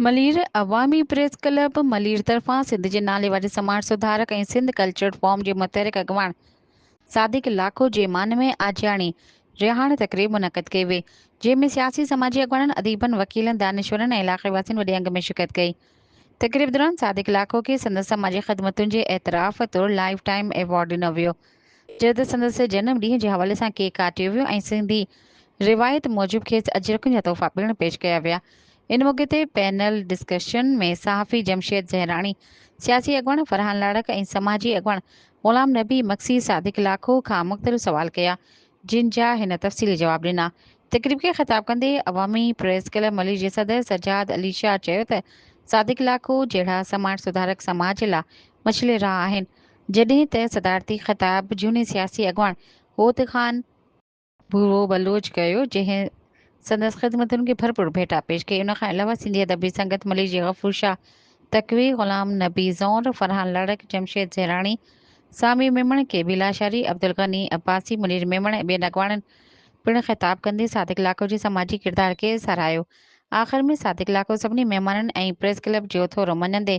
ملير، عوامي press club Malir طرفان سنڌ جي ناليواري سماج سڌارڪ ۽ سنڌ ڪلچرل فورم جي متحرڪ اڳواڻ صادق لاکو جي مان ۾ آجياڻي رهاڻي تقريب منعقد ڪئي وئي جنهن ۾ سياسي سماجي اڳواڻن اديبن وڪيلن دانشورن ۽ علاقي واسين وڏي انگ ۾ شرڪت ڪئي تقريب دوران صادق لاکو کي سندس سماجي خدمتن جي اعتراف طور لائف ٽائيم ايوارڊ ڏنو ويو جڏهن ته سندس جنم ڏينهن جي حوالي سان ڪيڪ ڪاٽيو ويو ۽ سنڌي روايت موجب کيس اجرڪن جا تحفا پڻ پيش ڪيا ويا. ان موقعي تي پينل ڊسڪشن ۾ صحافي جمشيد زهراڻي، سياسي اڳواڻ فرحان لاڙڪ ۽ سماجي اڳواڻ غلام نبي مگسي صادق لاکو کان مختلف سوال ڪيا، جن جا هن تفصيلي جواب ڏنا. تقريب کي خطاب ڪندي عوامي پريس ڪلب ملير جي صدر سجاد علي شاهه چيو ته صادق لاکو جهڙا سماج سڌارڪ سماج لا مشعل راهه آهن، جڏهن ته صدارتي خطاب جهوني سياسي اڳواڻ هوت خان ڀورو بلوچ ڪيو جنهن سندس خدمتن کي ڀرپور ڀيٽا پيش ڪئي ان کان علاوه سنڌي ادبي سنگت مليجي غفور شاهه تقوي، غلام نبي زئور، فرحان لڙڪ، جمشيد زهراڻي، سامي ميمڻ، ڪي بي لاشاري، عبدالغني عباسي، منير ميمڻ ۽ ٻين اڳواڻن پڻ خطاب ڪندي صادق لاکو جي سماجي ڪردار کي ساراهيو آخر ۾ صادق لاکو سڀني مهمانن ۽ پريس ڪلب جي اٿورو مڃندي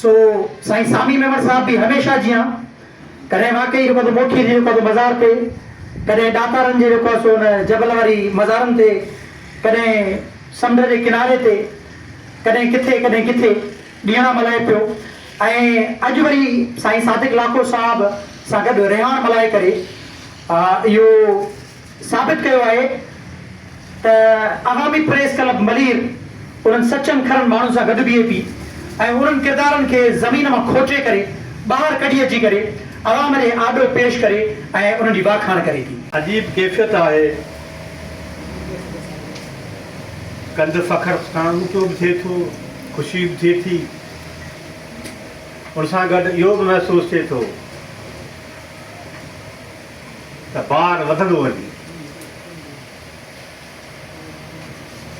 سو سائين سامي ميمڻ صاحب به هميشه جيان ڪڏهن واقعي جيڪو آهي سو موٺيء جي جيڪو آهي سو مزار تي، ڪڏهن ڏاتارن جي جيڪو آهي سو ان جبل واري مزارن تي، ڪڏهن سمنڊ جي ڪناري تي، ڪڏهن ڪٿي ڪڏهن ڪٿي ڏينهڙا ملهائي پيو ۽ اڄ وري سائين صادق لاکو صاحب سان گڏ رهاڻ ملهائي ڪري اهو ثابت ڪيو آهي ته عوامي پريس ڪلب ملير انهن سچن کرن ماڻهن سان گڏ بيهي ٿي ۽ انهن ڪردارن کي زمين مان کوٽي ڪري ٻاهر ڪڍي اچي ڪري عوام جي آڏو پيش ڪري ۽ انهن جي واکاڻ ڪري ٿي. عجيب ڪيفيت آهي. ڪنڌ فخر سان اوچو به ٿئي ٿو، خوشي به ٿئي ٿي. ان سان گڏ اهو به محسوس ٿئي ٿو. ته بار وڌندو وڃي.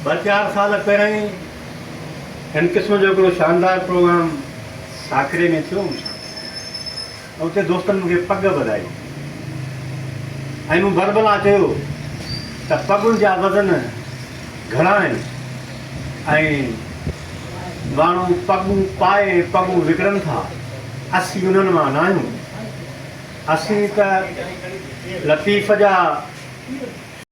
ٻه چار سال پهرئين هن قسم جو هڪڙو شاندار پروگرام ساڪري ۾ ٿيو مون سان ۽ اتي دوستن مون کي پڳ ٻڌائي ۽ مون بربلا چيو ته پڳن جا وزن گهڻا آهن ۽ ماڻهو پڳون پائي ۽ پڳون وڪڻن ٿا، اسين انهن مان ناهيون. اسين ته لطيف جا.